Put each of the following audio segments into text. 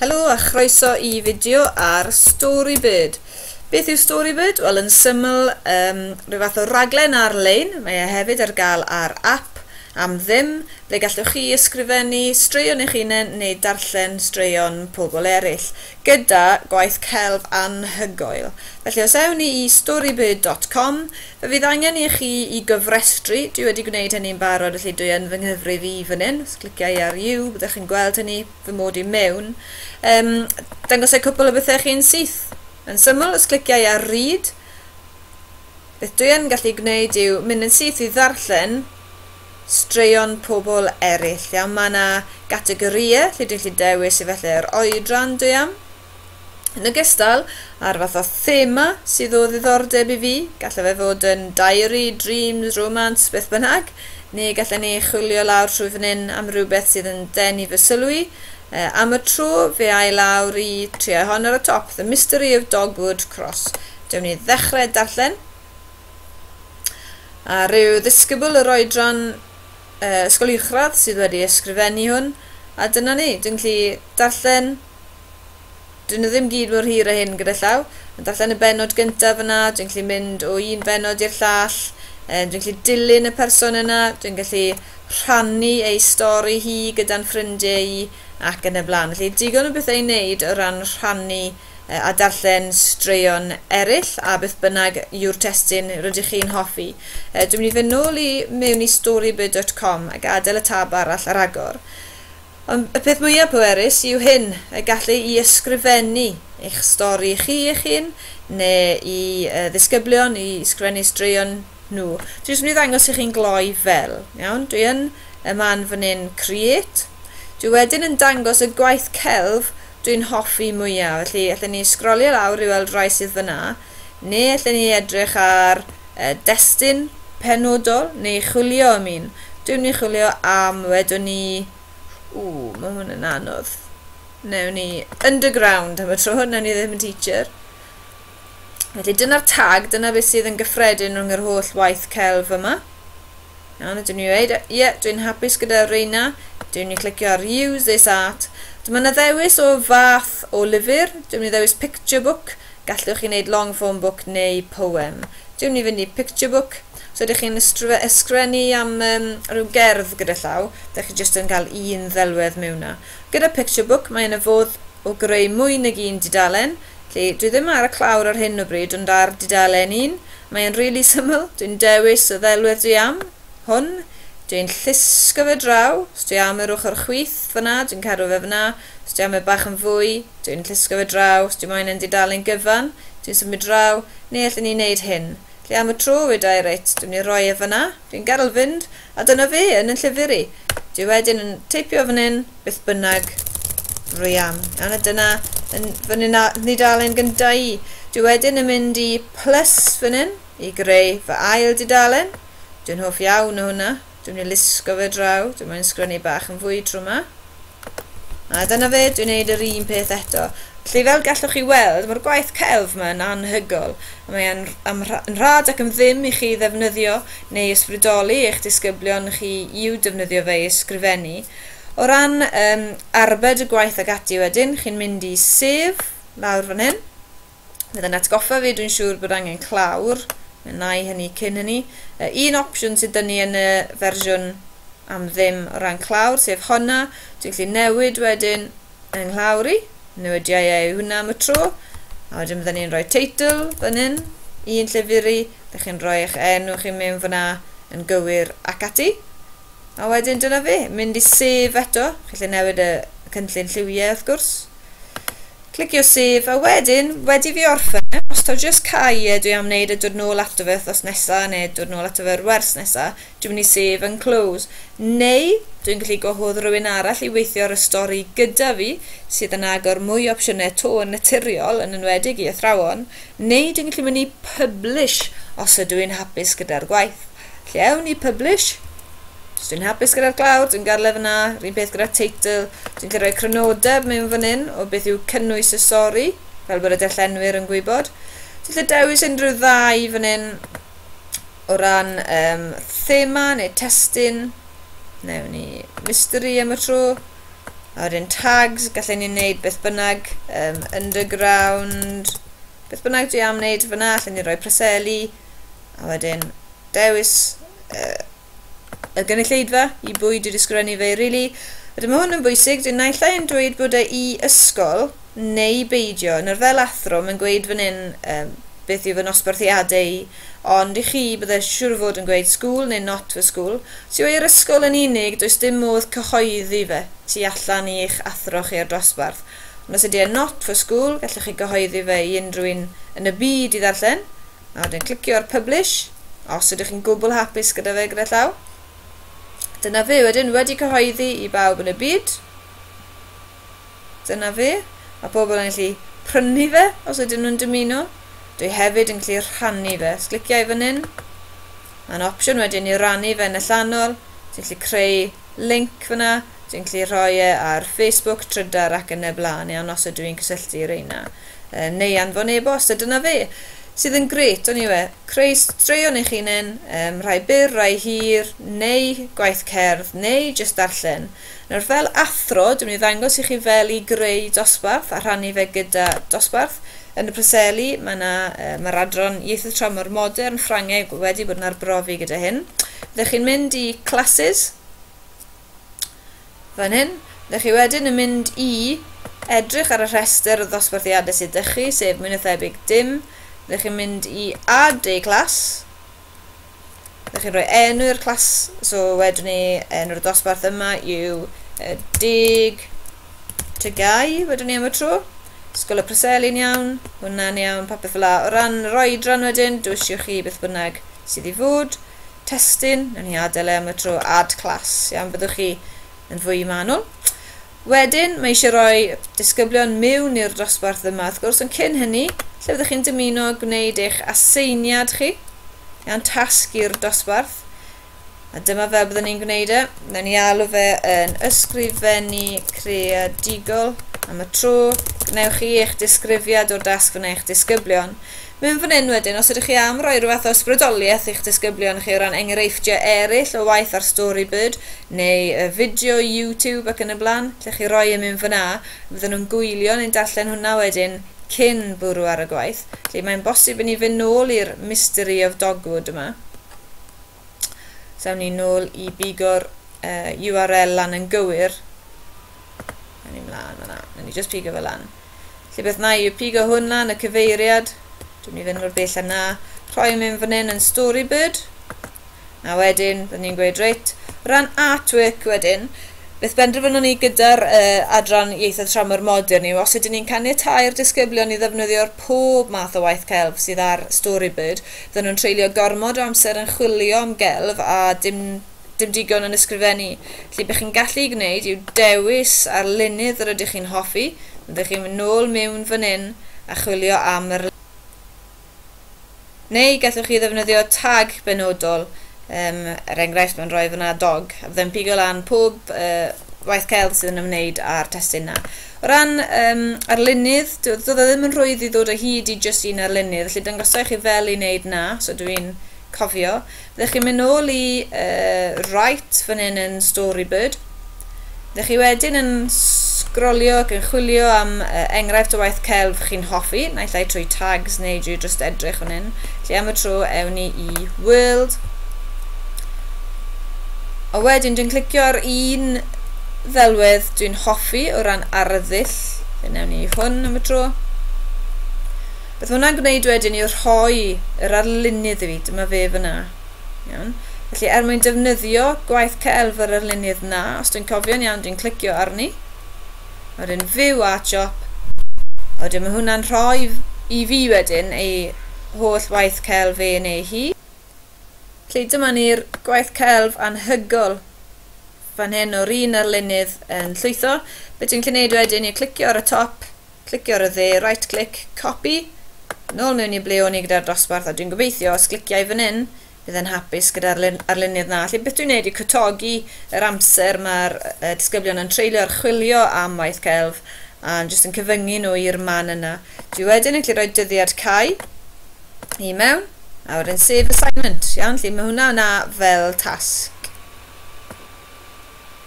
Helo a chroeso i fideo ar Storybird. Beth yw Storybird? Wel, yn syml, um, rhyw fath o raglen ar-lein. Mae e hefyd ar gael ar app am ddim, ble gallwch chi ysgrifennu straeon eich hunain neu darllen straeon pobl eraill, gyda gwaith celf anhygoel. Felly, os ewn ni i storybird.com, Fydd angen i chi i gofrestru, dwi wedi gwneud hynny'n barod felly dwi yn fy nghyfrif i fan hyn, os cliciau ar You byddwch chi'n gweld hynny, fy mod i mewn. Yym, dangosai cwpl o bethau chi'n syth. Yn syml, os cliciau ar Read, beth dwi yn gallu gwneud yw mynd yn syth i ddarllen straeon pobl eraill. Iawn, mae yna gategorïau lle dwi'n gallu dewis efallai yr oedran dwi am. Yn ogystal â'r fath o thema sydd o ddiddordeb i fi, gallai fe fod yn diary, dreams, romance, beth bynnag, neu gallen ni chwilio lawr trwy fan hyn am rhywbeth sydd yn denu fy sylw i. Uh, am y tro, fe ai lawr i triau hon ar y top, The Mystery of Dogwood Cross. Dewn ni ddechrau darllen. A rhyw ddisgybl yr oedran uh, ysgol uwchradd sydd wedi ysgrifennu hwn, a dyna ni, dwi'n gallu darllen Dyn nhw ddim gyd mor hir â hyn gyda llaw. Yn darllen y bennod gyntaf yna, dwi'n gallu mynd o un bennod i'r llall, um, dwi'n gallu dilyn y person yna, dwi'n gallu rhannu ei stori hi gyda'n ffrindiau i, ac yn y blaen. Felly, digon o bethau i wneud o ran rhannu uh, a darllen straeon eraill, a beth bynnag yw'r testyn rydych chi'n hoffi. Uh, dwi'n mynd i fynd nôl i mewn i storybird.com a gadael y tab arall ar agor. Ond y peth mwyaf pwerus yw hyn, y gallu i ysgrifennu eich stori chi eich hun, neu i ddisgyblion i sgrifennu straeon nhw. Dwi jyst yn mynd i ddangos i chi'n gloi fel, iawn? Dwi yn y man fan hyn, create. Dwi wedyn yn dangos y gwaith celf dwi'n hoffi mwyaf, felly allen ni sgrolio lawr i weld rai sydd fan'na. Neu allen ni edrych ar y destun penodol neu chwilio am un. Dwi'm ni chwilio am, wedwn ni... Ww, mae hwn yn anodd. Newn ni underground am y tro, newn ni ddim yn teacher. Felly dyna'r tag, dyna beth sydd yn gyffredin rhwng yr holl waith celf yma. Iawn, dwi'n ni weid, ie, yeah, dwi'n hapus gyda reina. Dwi'n ni clicio ar use this art. Dyma na ddewis o fath o lyfr. Dwi'n ni ddewis picture book. Gallwch chi wneud long form book neu poem. Dwi'n ni fynd i picture book. Os ydych chi'n ysgrifennu am um, rhyw gerdd gyda llaw, da chi jyst yn cael un ddelwedd mewn na. Gyda picture book, mae yna fodd o greu mwy nag un dudalen, Felly, dwi ddim ar y clawr ar hyn o bryd ond ar dudalen un. Mae e'n rili syml, dwi'n dewis y ddelwedd dwi am, hwn, dwi'n llusgo fe draw, os dwi am yr ochr chwith fan'na dwi'n cadw fe fan'na, os dwi am e bach yn fwy, dwi'n llusgo fe draw, os dwi moyn e'n dudalen gyfan, dwi'n symud draw, neu allen i neud hyn. Felly am y tro weda i reit, dwi'n mynd i roi e fan'na, dwi'n gadel fynd, A dyna fi, yn 'y llyfr i. Dwi wedyn yn teipio fan hyn, beth bynnag, rwy am. Iawn, a dyna yn fy nidalen gyntaf i. Dwi wedyn yn mynd i plus fan hyn, i greu fy ail didalen. Dwi'n hoff iawn o hwnna. Dwi'n mynd i lusgo fe draw, dwi'n mynd i sgrennu bach yn fwy tro yma. A dyna fe, dwi'n neud yr un peth eto. Felly fel gallwch chi weld, mae'r gwaith celf yma yn anhygoel, a mae e'n am yn rhad ac yn ddim i chi ddefnyddio neu ysbrydoli eich disgyblion chi i'w defnyddio fe i ysgrifennu. O ran um, arbed y gwaith ag ati wedyn, chi'n mynd i sef lawr fan hyn, Bydd yn atgoffa fi, dwi'n siŵr bod angen clawr. Mae na i hynny cyn hynny. Uh, un opsiwn sydd dyn ni yn y fersiwn am ddim o ran clawr, sef honna. Dwi'n gallu newid wedyn yng nghlawr i. Newidiau ei hwnna am y tro. A wedyn byddwn ni'n rhoi teitl fan hyn, un llyfr i, da chi'n rhoi eich enw chi mewn fyna yn gywir ac ati. A wedyn dyna fe, mynd i sef eto, chi'n gallu newid y cynllun lliwiau wrth gwrs. Clicio save a wedyn wedi fi orffen os taw jyst cau e dwi am neud e dod nôl ato fe wthnos nesa ne dod nôl ato fe yr wers nesa dwi myn i save and close neu dwi'n gallu gwahodd rywun arall i weithio ar y stori gyda fi sydd yn agor mwy o opsiynau to yn naturiol yn enwedig i athrawon neu dwi'n gallu myn i publish os ydw i'n hapus gyda'r gwaith Lle ewn ni publish? Os dwi'n hapus gyda'r glawr, dwi'n garlef yna, rhywun peth gyda teitl, dwi'n cael rhoi crynodeb mewn fan hyn o beth yw cynnwys y sori, fel bod y darllenwyr yn gwybod. Dwi'n lle dewis unrhyw ddau fan hyn o ran um, thema neu testyn, newn ni mystery am y tro, a wedyn tags, gallai ni wneud beth bynnag, um, underground, beth bynnag dwi am wneud fyna, allan ni roi preseli, A wedyn, dewis uh, y gynulleidfa i bwy dwi wedi sgrifennu fe, really. Wedyn mae hwn yn bwysig, dwi'n naill ai yn dweud bod e i ysgol neu beidio. Yn yr fel athro, mae'n gweud fan hyn um, beth yw fy nosbarthiadau i, ond i chi bydde siŵr o fod yn gweud school neu not for school. Os yw e i'r ysgol yn unig, does dim modd cyhoeddi fe tu allan i eich athro chi ar dosbarth. Ond os ydy e'n not for school, gallwch chi gyhoeddi fe i unrhyw un yn y byd i ddarllen, a wedyn clicio ar publish, os ydych chi'n gwbl hapus gyda fe gyda llaw. Dyna fe, wedyn wedi cyhoeddi i bawb yn y byd. Dyna fe. Mae pobl yn gallu prynu fe os ydyn nhw'n dymuno. Dwi hefyd yn gallu rhannu fe. Os cliciau fan hyn, mae'n opsiwn wedyn i rannu fe yn allanol, ti'n gallu creu link fyna, dwi'n gallu rhoi e ar Facebook, Trydar ac yn y blaen iawn os ydw i'n cysylltu reina. Uh, neu anfon e-bost, a dyna fe. Sydd yn gret, o'n i we, creu straeon eich unen, um, rhai byr, rhai hir, neu gwaith cerdd, neu jyst darllen. Nawr fel athro, dwi'n mynd i ddangos i chi fel i greu dosbarth a rhannu fe gyda dosbarth, Yn y Preseli, mae yna, yy, mae'r adran ieithoedd tramor modern, Ffrangeg, wedi bod yn arbrofi gyda hyn. Ydych chi'n mynd i classes? Fan hyn. Ydych chi wedyn yn mynd i edrych ar y rhestr o ddosbarthiadau sydd ydych chi, sef mwy na thebyg dim. Ydych chi'n mynd i add a class? Ydych chi'n rhoi enw i'r clas? So wedwn ni enw'r dosbarth yma yw uh, Dig Tygau, wedwn ni am y tro. Sgol y Preseli'n iawn, hwnna'n iawn, popeth fel la. O ran yr oedran wedyn, dwi eisiau chi beth bynnag sydd i fod. Testyn, nawn ni adael e am y tro, ad class, iawn, byddwch chi yn fwy manwl. Wedyn, mae eisiau rhoi disgyblion miwn i'r dosbarth yma, wrth gwrs, ond cyn hynny, lle fyddwch chi'n dymuno gwneud eich aseiniad chi, iawn, tasg i'r dosbarth, a dyma fel byddwn ni'n gwneud e. Newn ni alw fe yn ysgrifennu creadigol am y tro. Gwnewch chi eich disgrifiad o'r dasg fan eich disgyblion. Mewn fan hyn wedyn, os ydych chi am roi rhyw fath o ysbrydoliaeth i'ch disgyblion chi o ran enghreifftiau eraill o waith ar Storybird, neu y fideo YouTube ac yn y blaen, lle chi roi e mewn fan'na, fyddan nhw'n gwylio neu'n darllen hwnna wedyn cyn bwrw ar y gwaith. Felly mae'n bosib i ni fynd nôl i'r Mystery of Dogwood yma. Sawn ni'n nôl i bigo'r uh, URL lan yn gywir. Sawn ni'n mlaen fyna. Sawn ni just pigo fe lan. Lle beth na i yw pigo hwn lan, y cyfeiriad. Dwi'n ni fynd o'r bell yna. Rhoi mynd fan hyn yn Storybird. Na wedyn, byddwn ni'n gweud reit. Ran artwork wedyn, beth benderfynwn ni gyda'r uh, adran ieithoedd tramor modern yw os ydyn ni'n caniatáu'r disgyblion i ddefnyddio'r pob math o waith celf sydd ar Storybird, Fydden nhw'n treulio gormod o amser yn chwilio am gelf a dim dim digon yn ysgrifennu. Felly be chi'n gallu ei gwneud yw dewis arlunydd yr ydych chi'n hoffi, fyddech chi'n mynd nôl miwn fan hyn a chwilio am yr Neu gallwch chi ddefnyddio tag benodol, yym, er enghraifft mae'n rhoi fan'na dog, a fyddai'n pigo lan pob yy waith celf sydd yn ymwneud â'r testun yna. O ran um, arlunydd, doedd o ddim yn rhwydd i ddod o hyd i jyst un arlunydd, felly dangosau chi fel i wneud na, so dw i'n cofio. Byddech chi'n mynd nôl i uh, right fan hyn yn Storybird. Byddech chi wedyn yn sgrolio ac yn chwilio am uh, enghraifft o waith celf chi'n hoffi, naill ai trwy tags neu drwy just edrych fan hyn. Felly am y tro, ewn ni i World, a wedyn dwi'n clicio ar un ddelwedd dwi'n hoffi o ran arddull fe newn ni hwn am y tro beth mae hwnna'n gwneud wedyn yw rhoi yr arlunydd i fi dyma fe fyna iawn felly er mwyn defnyddio gwaith celf yr arlunydd na os dwi'n cofio'n iawn dwi'n clicio arni a wedyn view art shop a wedyn mae hwnna'n rhoi i fi wedyn ei holl waith celf e neu hi Felly dyma ni'r gwaith celf anhygol fan hyn o'r un arlunydd yn llwytho. Be ti'n gallu neud wedyn yw clicio ar y top, clicio ar y dde, right click, copy, nôl mewn i ble o'n i gyda'r dosbarth a dwi'n gobeithio os clicia i fan hyn bydd e'n hapus gyda'r arlunydd na. Felly beth dwi'n neud yw cytogi yr amser mae'r uh, disgyblion yn treulio ar chwilio am waith celf a'n jyst yn cyfyngu nhw i'r man yna. Dwi wedyn yn gallu rhoi dyddiad cau i mewn a wedyn save assignment iawn lle mae hwnna yna fel tasg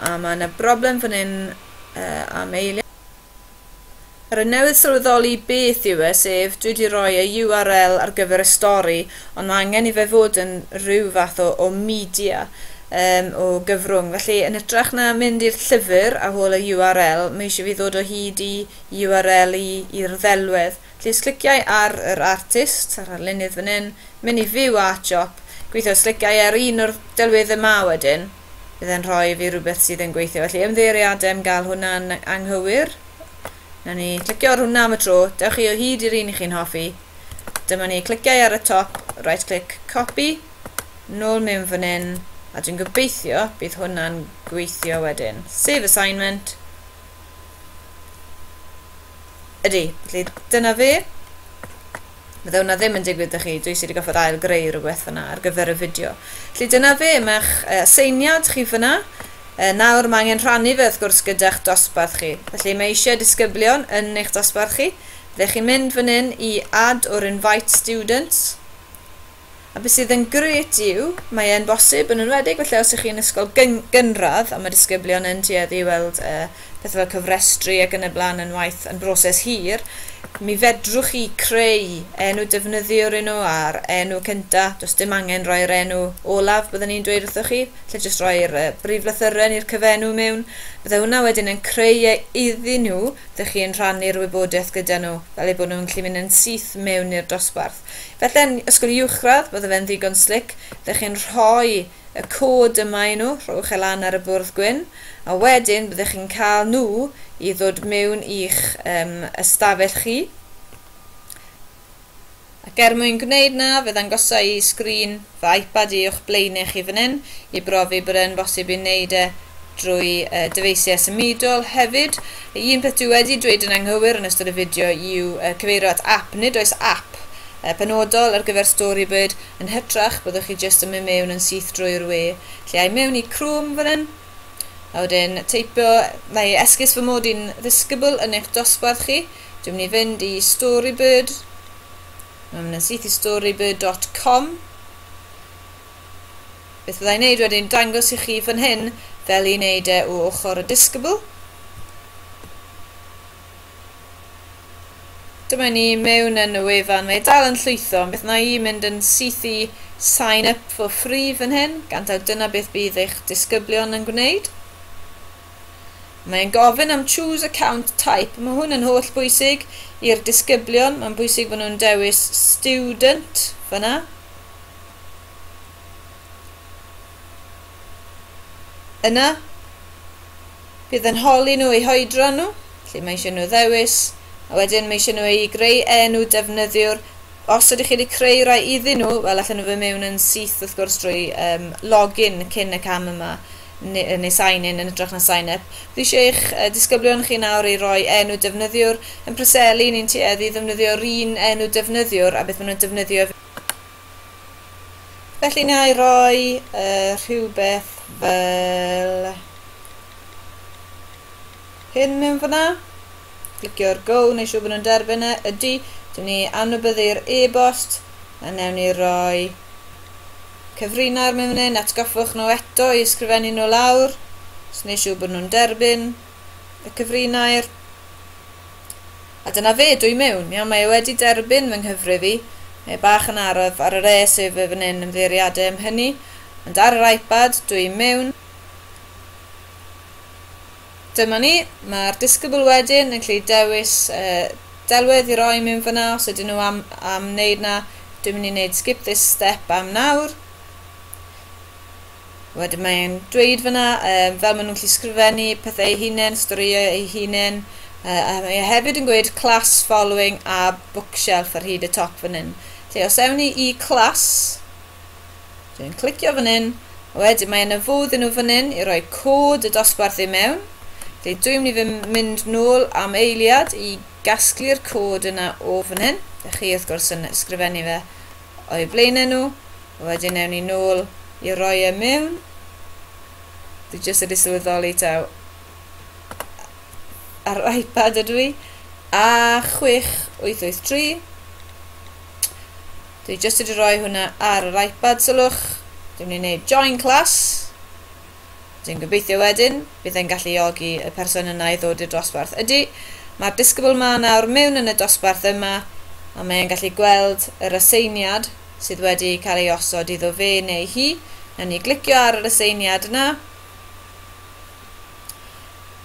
a mae yna broblem fan hyn uh, am eiliad Ar y newydd sylweddoli beth yw e, sef dwi wedi rhoi y URL ar gyfer y stori, ond mae angen i fe fod yn rhyw fath o, o media, um, o gyfrwng. Felly, yn hytrach na mynd i'r llyfr a hol y URL, mae eisiau fi ddod o hyd i URL i'r ddelwedd. Plîs cliciau ar yr artist a'r arlunydd fan hyn, mynd i View Art Shop, gweithio os cliciau ar un o'r delweddau 'ma wedyn, bydd e'n rhoi i fi rhywbeth sydd yn gweithio, felly ymddiheuriadau am gael hwnna'n anghywir. Wnawn ni clicio ar hwnna am y tro, dewch chi o hyd i'r un i chi'n hoffi. Dyma ni, cliciau ar y top, right click, copy, nôl mewn fan hyn, a dwi'n gobeithio bydd hwnna'n gweithio wedyn. Save assignment. Ydy, felly dyna fe. Fydde hwnna ddim yn digwydd â chi, dwi sydd wedi goffod ail greu rhywbeth fyna ar gyfer y fideo. Felly dyna fe, mae'ch uh, seiniad chi fyna. Uh, nawr mae angen rhannu fe wrth gwrs gyda'ch dosbarth chi. Felly mae eisiau disgyblion yn eich dosbarth chi. Felly chi'n mynd fan hyn i add or invite students. A be sydd yn grêt yw, mae e'n bosib, yn enwedig falle os ych chi'n ysgol gynradd a mae disgyblion yn tueddu i weld uh, pethau fel cyfrestru ac yn y blaen yn waith yn broses hir, mi fedrwch chi creu enw defnyddiwr i nhw a'r enw cynta, does dim angen roi'r enw olaf byddwn ni'n dweud wrthoch chi, lle jyst roi'r uh, brif lythyren i'r cyfenw mewn. Byddai hwnna wedyn yn creu e iddyn nhw, ydych chi'n rhannu'r wybodaeth gyda nhw, fel eu bod nhw'n gallu mynd yn syth mewn i'r dosbarth. Felly yn ysgol uwchradd, bydde fe'n ddigon slic, dych chi'n rhoi y cod yma i nhw, rhowch e lan ar y bwrdd gwyn, a wedyn byddech chi'n cael nhw i ddod mewn i'ch um, ystafell chi. Ac er mwyn gwneud na, fe ddangosa i sgrin fy iPad i uwch blaenau chi fan hyn i brofi bod e'n bosib i wneud e drwy dyfeisiau symudol hefyd. Un peth dwi wedi dweud yn anghywir yn ystod y fideo yw cyfeirio at app, nid oes app penodol ar gyfer Storybird, yn hytrach byddwch chi jyst yn mynd mewn yn syth drwy'r we, lle ai mewn i Chrome fan hyn, a wedyn teipio, mae esgus fy mod i'n ddisgybl yn eich dosbarth chi, dwi'n mynd i fynd i Storybird, Mae'n mynd yn syth i storybird.com. Beth fyddai wneud wedyn dangos i chi fan hyn fel i wneud e o ochr y disgybl. Dyma ni mewn yn y wefan, mae e dal yn llwytho, ond beth na i mynd yn syth i sign up for free fan hyn, gan taw dyna beth bydd eich disgyblion yn gwneud. Mae'n gofyn am choose account type. Mae hwn yn holl bwysig i'r disgyblion. Mae'n bwysig fod nhw'n dewis student fyna. Yna, bydd yn holi nhw eu hoedran nhw, lle mae eisiau nhw ddewis, a wedyn mae eisiau nhw eu greu enw defnyddiwr. Os ydych chi wedi creu rai iddyn nhw, wel allan nhw fy mewn yn syth wrth gwrs drwy um, login cyn y cam yma. neu sign in yn ytrach na sign up. Dwi eisiau eich disgyblion chi nawr i roi enw defnyddiwr. Yn Preseli, ni'n tueddu i ddefnyddio'r un enw defnyddiwr a beth maen nhw'n defnyddio ef. Felly na i roi uh, rhywbeth fel hyn mewn fyna. Clicio'r go, neu siw bod nhw'n derbyn e. Ydy, dyn ni anwybyddu'r e-bost, a newn ni roi Cyfrina'r memunyn, atgoffwch nhw eto i ysgrifennu nhw lawr, os wneud siŵr bod nhw'n derbyn y cyfrinair. A dyna fe, dwi mewn. Iawn, mae e wedi derbyn fy nghyfrif i. Mae e bach yn araf ar yr e sef y fan hyn ymddeiriadau am hynny, ond ar yr iPad, dwi mewn. Dyma ni, mae'r disgybl wedyn yn gallu dewis uh, delwedd i roi mewn fyna os ydyn nhw am, am wneud na. Dwi'n mynd i wneud skip this step am nawr. Wedyn mae'n dweud fyna um, fel maen nhw'n gallu sgrifennu pethau eu hunain, storïau eu hunain, uh, a mae e hefyd yn gweud class following a bookshelf ar hyd y top fan hyn. Felly os ewn ni i class, Dwi'n clicio fan hyn, a wedyn mae yna fodd i nhw fan hyn i roi cod y dosbarth i mewn. Felly dwi'n mynd i fy mynd nôl am eiliad i gasglu'r cod yna o fan hyn. Ydych chi wrth gwrs yn ysgrifennu fe o'i flaenau nhw. A wedyn ewn ni nôl i roi e mewn. Dwi jyst wedi sylweddoli taw ar yr iPad ydw i. A 6883. Dwi jyst wedi rhoi hwnna ar yr iPad sylwch. Dwi'n mynd i wneud join class. Dwi'n gobeithio wedyn, bydd e'n galluogi y person yna i ddod i'r dosbarth. Ydy, mae'r disgybl ma nawr mewn yn y dosbarth yma, a mae e'n gallu gweld yr aseiniad sydd wedi cael ei osod iddo fe neu hi. Nawn ni glicio ar yr aseiniad yna.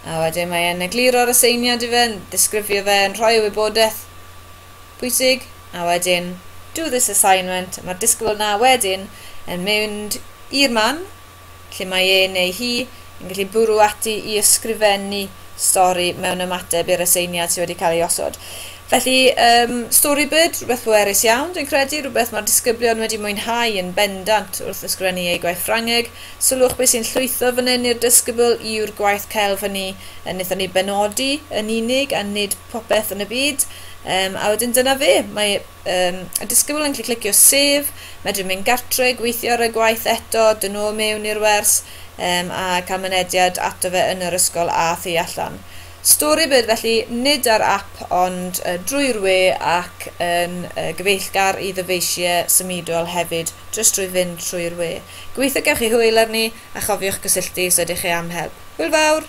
A wedyn mae e'n egluro'r aseiniad i fe, yn disgrifio fe, yn rhoi y wybodaeth pwysig, a wedyn do this assignment, mae'r disgybl yna wedyn yn mynd i'r man lle mae e neu hi yn gallu bwrw ati i ysgrifennu stori mewn ymateb i'r aseiniad sydd wedi cael ei osod. Felly, um, Storybird, rhywbeth pwerus iawn, dwi'n credu, rhywbeth mae'r disgyblion wedi mwynhau yn bendant wrth ysgrifennu eu gwaith Ffrangeg. Sylwch beth sy'n llwytho fan hyn i'r disgybl yw'r gwaith celf hynny yn wnaethon ni benodi yn unig a nid popeth yn y byd, um, a wedyn dyna fe. Mae um, y disgybl yn clicio sef, medru mynd gartre, gweithio ar y gwaith eto, dyn nhw mewn i'r wers, um, a cael mynediad ato fe yn yr ysgol a thu allan. Storybird felly nid ar app ond uh, drwy'r we ac yn uh, gyfeillgar i ddyfeisiau symudol hefyd jyst drwy fynd trwy'r we. Gobeithio gewch chi hwyl arni a chofiwch gysylltu os ydych chi am help. Hwyl fawr!